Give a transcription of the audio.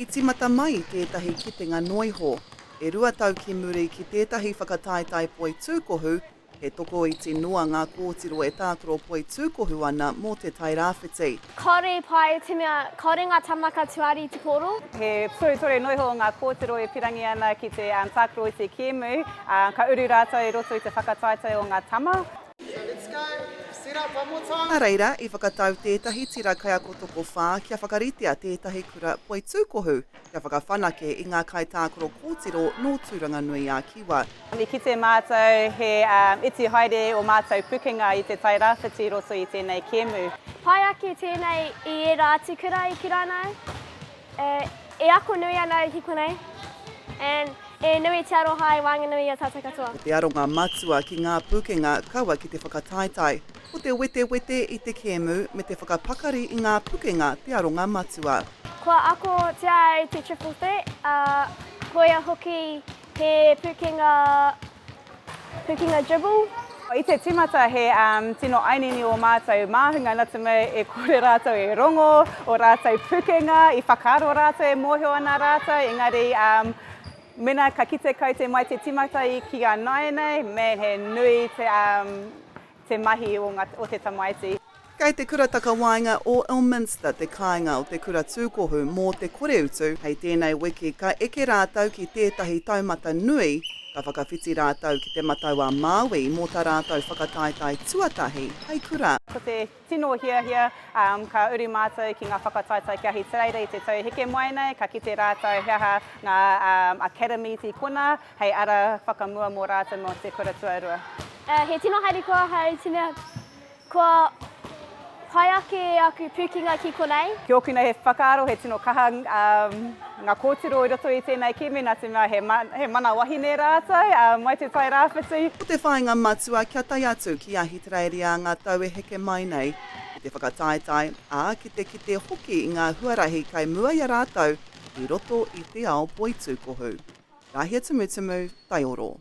I tīmata mai tētahi kitenga noiho. E rua tau ki muri ki tētahi whakataetae poitūkohu, he tokoiti noa ngā kōtiro e tākaro poitūkohu ana mō Te Tai Rāwhiti. Kāore i pā e te mea, kāore ngā tāmaka tuari i te pōro. He tohutore noiho ngā kōtiro e pirangi ana ki te tākaro i te kēmu, ā, ka uru rātou i roto i te whakataetae o ngā tama. Nā reira, i whakatau tētahi tira kaiako tokowhā kia whakaritea tētahi kura poitūkohu kia whakawhanake i ngā kaitākaro kōtiro nō Tūranganui-ā-Kiwa. I kite mātou he iti haere ō mātou pukenga i te tai rāwhiti i roto i tēnei kēmu. Pai ake tēnei i ērā atu kura i Kiranau. E ako nui ana au ki konei and e nui te aroha hai wānganui i a tātou katoa. Ko te aronga matua ki ngā pūkenga kaua ki te whakataetae, ko te wetewete i te kēmu me te whakapakari i ngā pukenga te aronga matua. Kua akotia ai te Triple Threat, ā, koia hoki he pūkenga. Tukinga Dribble. I te timata he tino ainini o mātou māhunga natu mai e kore rātou e rongo, o rātou pukenga, i whakaaro rātou e mōhio ana rātou, engari mena ka kite kau te mai te timata ki a nāianei, man he nui te. te mahi o nga o te tamaiti. Kei te Kura Takawaenga o Ilminster te kāinga o te kura tūkohu mō te koreutu hei tēnei wiki ka eke rātou ki tētahi taumata nui ka whakawhiti rātou ki Te Matau-a-Māui mō ta rātou whakataetae tuatahi hei kura. Ko te tino hiahia, ka uru mātou ki ngā whakataetae kia hī te reira i te tau heke mai nei, ka kite rātou he aha ngā academy tīkona, Hei ara whakamua mō rātou mō te kura tuarua. He tino haere kua ahau tina kua pai ake aku pukenga ki konei. Ki ōku nei he whakaaro he tino kaha ngā kōtiro i roto i tēnei kimi nā te mea he mana wahine rātou mai Te Tai Rāwhiti. Ko te whāinga matua kia tae atu ki Ahitereiria ngā tau e heke mai nei, ki te whakataetae, ā, ki te kite hoki i ngā huarahi kei mua i a rātou i roto i te ao poitūkohu. Rāhiatumutumu, Taioro.